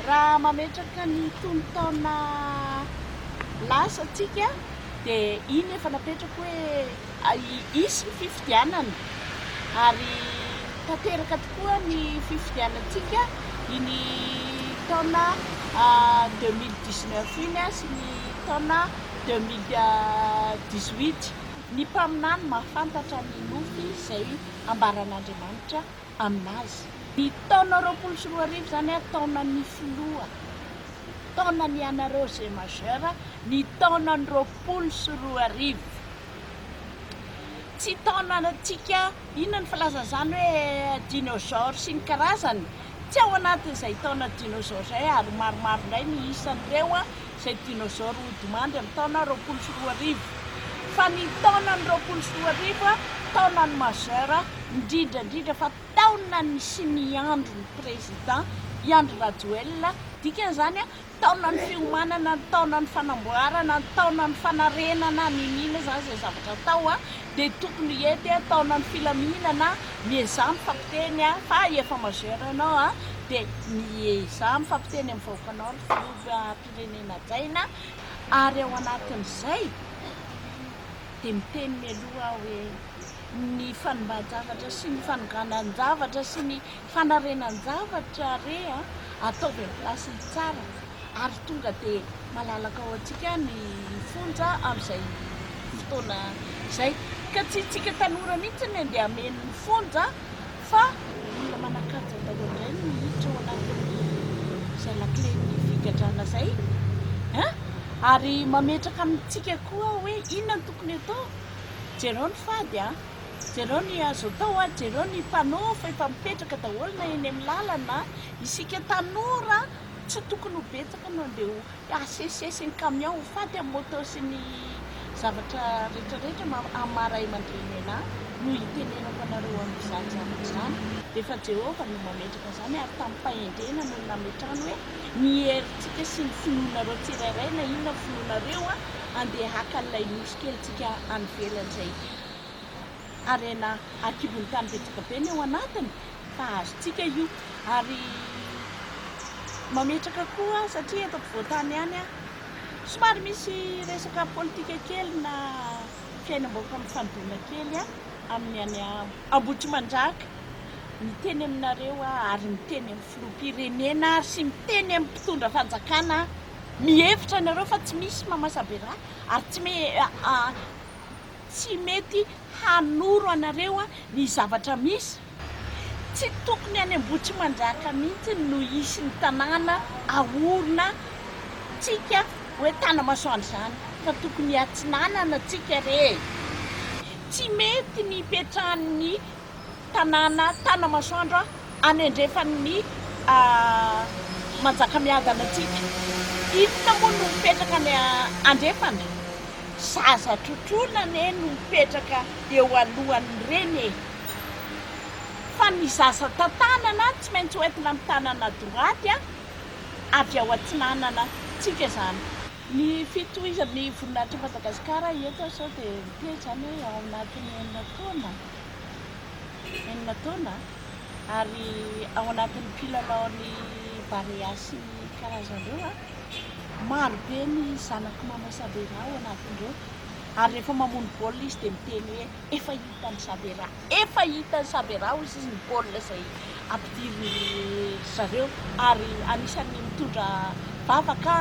Raha mametraka ny tonon-taona lasa antsika dia iny efa napetrako hoe hisy ny fifidianana ary tanteraka tokoa ny fifidianantsika iny taona 2019 iny sy ny taona 2018. Ny mpaminany mahafantatra ny nofy izay ambaran'Andriamanitra aminazy. Ny taona roapolo sy roa arivo izany ary taonan'ny filoha, taonan'ny anareo zay majeur, ny taonan'ny roapolo sy roa arivo. Tsy taonantsika inona ny filazana izany hoe dinosaures sy ny karazany, tsy ao anatin'izay taona dinosaures izay ary maromaro indray ny isan'ireo. izay dinôzôro hodimandy amin'ny taona roapolo sy roa arivo. Fa ny taonan'ny roapolo sy roa arivo, taonan'ny majeur, indrindra indrindra fa taonan'ny sy ny andron'ny Président i Andry Rajoelina, dikan'izany, taonan'ny fiomanana, taonan'ny fanamboarana, taonan'ny fanarenana, n'inon'inona izany izay zavatra atao, dia tokony hety, taonan'ny filaminana, miezaha mifampiteny fa efa majeur ianao dia miezaha mifampiteny amin'ny vahoakanao ry filoha. firenena jaina ary ao anatin'izay dia miteny mialoha aho hoe ny fanimban-javatra sy ny fanoganan-javatra sy ny fanarenan-javatra re a ataovy amin'ny place-ny tsara ary tonga dia malalaka ao antsika ny fonja amin'izay fotoana izay ka tsy isika tanora mihitsy ny andeha hameno ny fonja fa mila manakanja daholo indray ny miditra ao anatin'izay lakilen'ny figadrana izay an! ary mametraka amintsika koa hoe inona no tokony atao jereo ny fady an! jereo ny azo atao an! jereo ny panneau fa efa mipetraka daholo na eny amin'ny lalana isika tanora tsy tokony ho betsaka no andeha ho Hasesy sy ny kamiao ho faty amin'ny moto sy ny zavatra rehetra rehetra amin'ny maha ray aman-dreny anà no hitenenako anareo amin'izany zavatra izany. Dia efa Jehovah no mametraka izany, ary tamim-pahendrena no nametrahany hoe, Ny herintsika sy ny finoanareo tsirairay, na inona ny finoanareo, handeha haka an'ilay nosy kelintsika any ivelany izay. harena ankibon'ny tany betsaka be ny ao anatiny fa azontsika io ary mametraka koa satria eto ampovoan-tany ihany aho somary misy resaka politika kely na fiainam-bahoaka mifandoana kely aho amin'ny any Ambohitrimanjaka miteny aminareo aho ary miteny amin'ny filoham-pirenena ary sy miteny amin'ny mpitondra fanjakana mihevitra anareo fa tsy misy mamasabe rà ary tsy me Tsy mety hanoro anareo ny zavatra misy. Tsy tokony any Ambohitrimanjaka mihitsy no hisy ny tanàna ahorona tsika hoe Tanamasoandro izany fa tokony atsinanana tsika re. Tsy mety ny hipetrahan'ny. tanàna Tanamasoandro anendrefan' ny Manjakamiadana antsika. Inona moa no mipetraka any andrefana? Zaza trotroina anie no mipetraka eo alohan' ny reny e! Fa ny zaza tantanana tsy maintsy ho entina amin'ny tanana droite a! Avy ao atsinanana tsika izany. Ny fitohizan' ny voninahitr'i Madagasikara eto sao dia mitety izany hoe ao anatin' ny enina taona? enina taona ary ao anatin'ny mpilalaon'ny Barea sy ny karazany ireo, maro be ny zanak'i Maman Sabera ao anatin'ireo ary rehefa mamono baolina izy dia miteny hoe efa hitan'i Sabera, efa hitan'i Sabera hoy izy ny baolina izay didin-dry zareo ary anisan'ny mitondra vava ka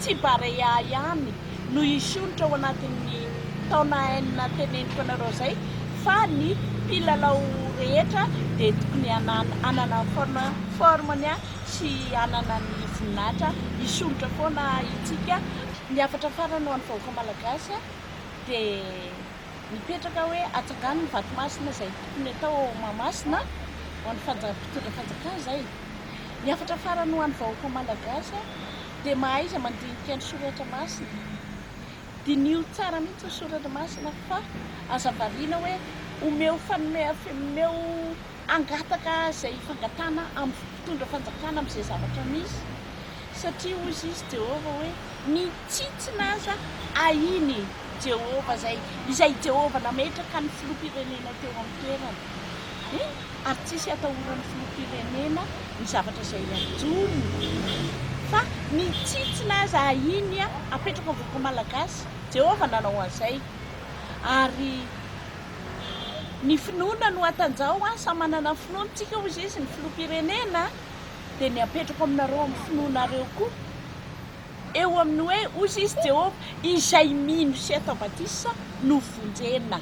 tsy Barea ihany no hisondrotra ao anatin'ny taona enina teneniko anareo izay fa ny mpilalao rehetra dia tokony hanana forme-ny sy hanana ny voninahitra hisondrotra foana isika. Ny hafatra farany ho an'ny vahoaka malagasy dia. Mipetraka hoe hatsangano ny vato masina izay tokony hatao ao Mahamasina ho an'ny fanja mpitondra fanjakana izay. Ny hafatra farany ho an'ny vahoaka Malagasy dia mahaiza mandinika ny soratra masina. Diniho tsara mihitsy ny soratra masina fa aza variana hoe omeo fanome omeo hangataka izay fangatahana amin'ny mpitondra fanjakana amin'izay zavatra misy, satria hoy izy Jehovah hoe, Ny tsitsina aza ahin'i Jehovah, izay izay i Jehovah nametraka ny filoham-pirenena teo amin'ny toerany. Eny, ary tsy hisy hatahoran'ny filoham-pirenena ny zavatra izay ajoriny, fa ny tsitsina aza ahiany apetraka ho vahoaka malagasy. Jehovah nanao an'izay, ary. Ny finoana no hatanjaho an, samy manana ny finoany tsika hoy izy ny filoham-pirenena dia ny apetrako aminareo amin'ny finoanareo koa eo amin'ny hoe hoy izy Jehovah izay mino sy atao batisa no vonjena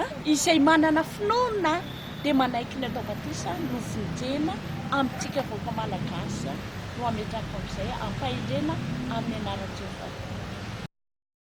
an, izay manana finoana dia manaiky ny atao batisa no vonjena amintsika vahoaka malagasy an, no ametrahako amin'izay ampahendrena amin'ny anaran'i Jehovah.